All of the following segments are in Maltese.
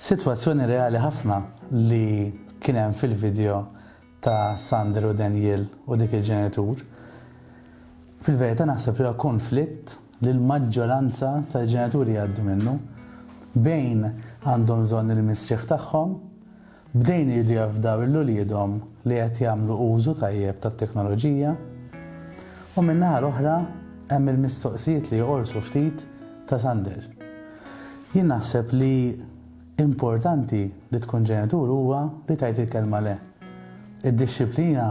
Sitwazzjoni reali ħafna li kien hemm fil-video ta' Sander u Danielle u dik il-ġenitur. Fil-verità naħseb li huwa konflitt li l-maġġoranza tal-ġenituri jgħaddu minnu. Bejn għandhom bżonn il-mistrieħ tagħhom, bdejn iridu jafdaw lil uliedhom li qed jagħmlu użu tajjeb tat-teknoloġija, u min-naħa l-oħra hemm il-mistoqsijiet li joqorsu ftit ta' Sander. Jien naħseb li importanti li tkun ġenitur huwa li tgħid il-kelma le. Id-dixxiplina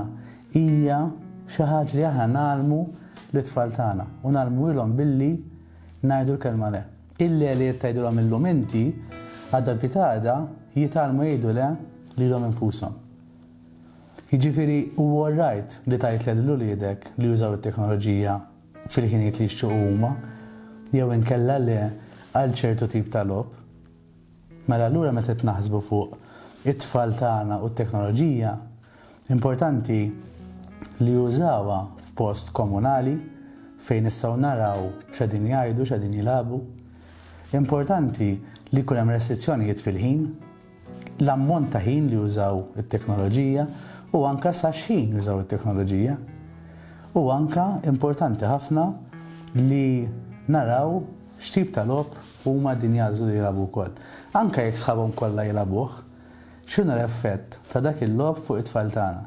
hija xi ħaġa li aħna ngħallmu lit-tfal tagħna u ngħallmuhielhom billi ngħidu l-kelma le. Il-le li qed tgħidilhom illum inti, għada pitada jitgħallmu jgħidu le lilhom infushom. Jiġifieri huwa all right li tgħid le lil uliedek li jużaw it-teknoloġija fil-ħinijiet li jixtiequ huma, jew inkella le għal ċertu tip ta' logħob. Mela allura meta qed naħsbu fuq it-tfal tagħna u t-teknoloġija, importanti li jużawha f'post komunali fejn nistgħu naraw x'qegħdin jgħidu, x'qegħdin jilagħbu. Importanti li jkun hemm restrizzjonijiet fil-ħin. l-ammont ta' ħin li jużaw it-teknoloġija u anke sa x'ħin jużaw it-teknoloġija. U anke importanti ħafna li naraw x'tip ta' logħob huma din jagħżlu li jilagħbu wkoll. Anke jekk sħabhom kollha jilagħbuh, x'inhu l-effett ta' dak il-logħob fuq it-tfal tagħna?